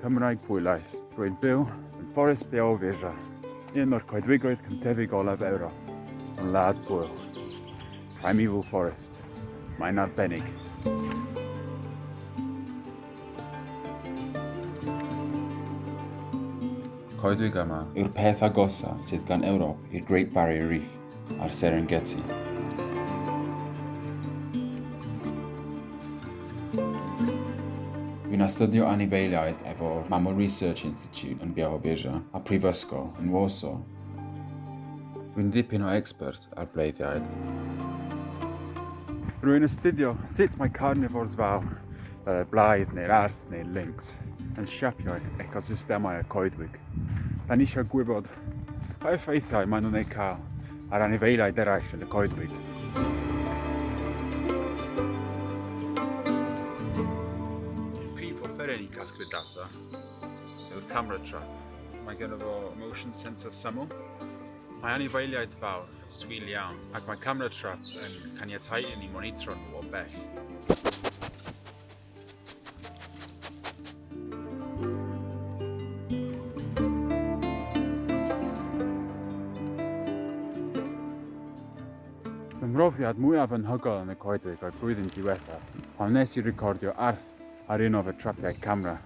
Cymraeg Pwylaeth. Rwy'n byw yn Forest Beau Visa, un o'r coedwigoedd cyntefig olaf Ewrop, yn Wlad Bwylch. Primeval Forest. Mae'n arbennig. Coedwig yma yw'r peth agosaf sydd gan Ewrop i'r Great Barrier Reef. a'r Serengeti. Fi'n astudio anifeiliaid efo'r Mammal Research Institute yn Biała Wieża a Prifysgol yn Warsaw. Rwy'n ddipyn o expert ar bleiddiaid. Rwy'n astudio sut mae carnivores fawr, fel y blaidd neu'r arth neu'r lynx, yn siapio'r ecosystemau y coedwig. Da ni eisiau gwybod pa effeithiau maen nhw'n eu cael ar anifeiliaid eraill yn y coedwig. Feren i'n casglu data yw'r camera trap. Mae gen fo motion sensor syml. Mae anifeiliaid fawr yn swil iawn ac mae camera trap yn caniatau i ni monitro nhw o bell. Fy mhrofiad mwyaf anhygoel yn y coedwig o'r blwyddyn diwethaf pan wnes i recordio arth ar un o fy trapiau camera.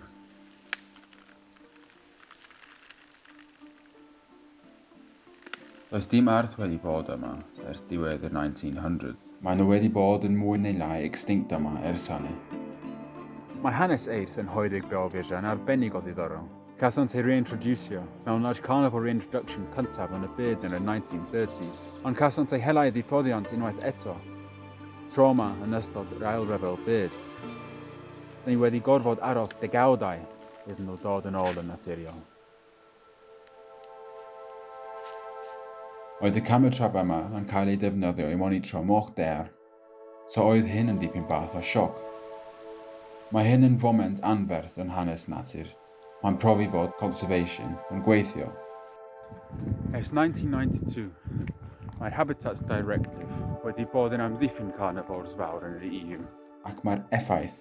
Does dim arth wedi bod yma ers diwedd y 1900s. Maen nhw wedi bod yn mwy neu lai extinct yma ers hynny. Mae hanes eirth yn Hoeddig Bro Firjan arbennig o ddiddorol. Cawsant eu reintroducio mewn Large Carnival Reintroduction cyntaf yn y byd yn y 1930s, ond cawsant eu hela i ddifoddiant unwaith eto, tro yma yn ystod yr Ail Ryfel Byd. Dyn ni wedi gorfod aros degawdau iddyn nhw dod yn ôl yn naturiol. Oedd y camau trap yma yn cael eu defnyddio i monitro moch dear, so oedd hyn yn dipyn bach o sioc. Mae hyn yn foment anferth yn hanes natur, pan profi fod conservation yn gweithio. Ers 1992, mae'r Habitats Directive wedi bod yn amddiffyn carnivores fawr yn yr EU, ac mae'r effaith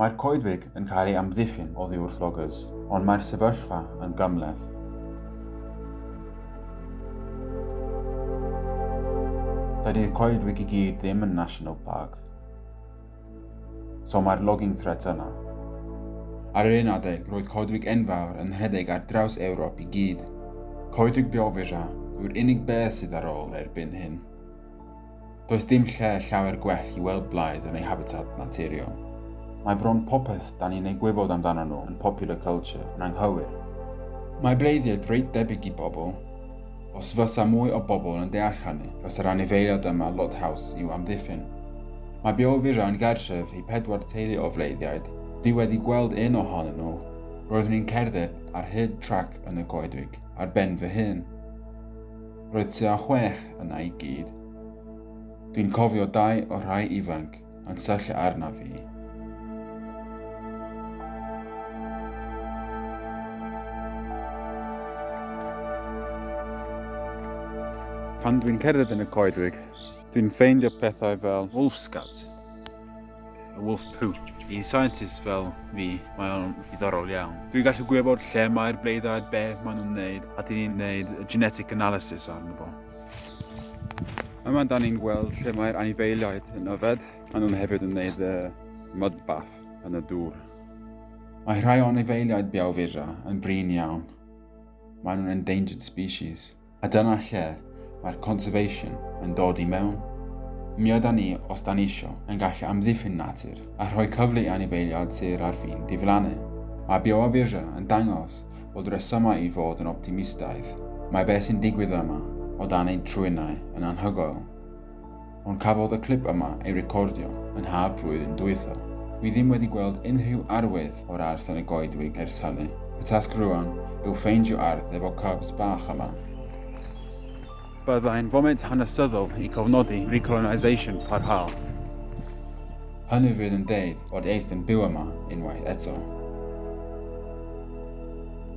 Mae'r coedwig yn cael ei amddiffyn oddiwrth loggers, ond mae'r sefyllfa yn gymhleth. Dydy'r coedwig i gyd ddim yn National Park. So mae'r logging threat yna. Ar yr un adeg, roedd coedwig enfawr yn rhedeg ar draws Ewrop i gyd. Coedwig Białowieża yw'r unig beth sydd ar ôl erbyn hyn. Does dim lle llawer gwell i weld blaidd yn ei habitat naturiol. Mae bron popeth da ni'n ei gwybod amdano nhw yn popular culture yn anghywir. Mae bleiddiaid reit debyg i bobl. Os fysa mwy o bobl yn deall hynny, fysa'r anifeiliad yma lot haws i'w amddiffyn. Mae Beovira yn gartref i pedwar teulu o fleiddiaid, dwi wedi gweld un ohonyn nhw, roeddwn i'n cerdded ar hyd trac yn y coedwig ar ben fy hun. Roedd tua chwech yna i gyd. Dwi'n cofio dau o'r rhai ifanc yn syllu arna fi. Pan dwi'n cerdded yn y coedwig, dwi'n ffeindio pethau fel wolfscats, y wolf poo. I scientist fel fi, mae o'n ddiddorol iawn. Dwi'n gallu gwybod lle mae'r bleiddaid, be maen nhw'n wneud, a dyn ni'n gwneud genetic analysis arno fo. Yma da ni'n gweld lle mae'r anifeiliaid yn yfed, a nhw'n hefyd yn gwneud y mud bath yn y dŵr. Mae rhai o anifeiliaid biawfura yn brin iawn. Maen nhw'n endangered species. A dyna lle mae'r conservation yn dod i mewn. Mi ydan ni, os da ni isio, yn gallu amddiffyn natur a rhoi cyfle i anifeiliaid sêr ar fin diflannu. Mae bioawyru yn dangos bod rhesymau i fod yn optimistaidd. Mae be sy'n digwydd yma, o dan ein trwynau, yn anhygoel. Ond cafodd y clip yma ei recordio yn haf blwyddyn dwytha. Dwi ddim wedi gweld unrhyw arwydd o'r Arth yn y goedwig ers hynny. Y tasg rŵan yw ffeindio Arth efo cubs bach yma. Byddai'n foment hanesyddol i gofnodi recolonisation parhaol. Hynny fydd yn deud bod Arth yn byw yma unwaith eto.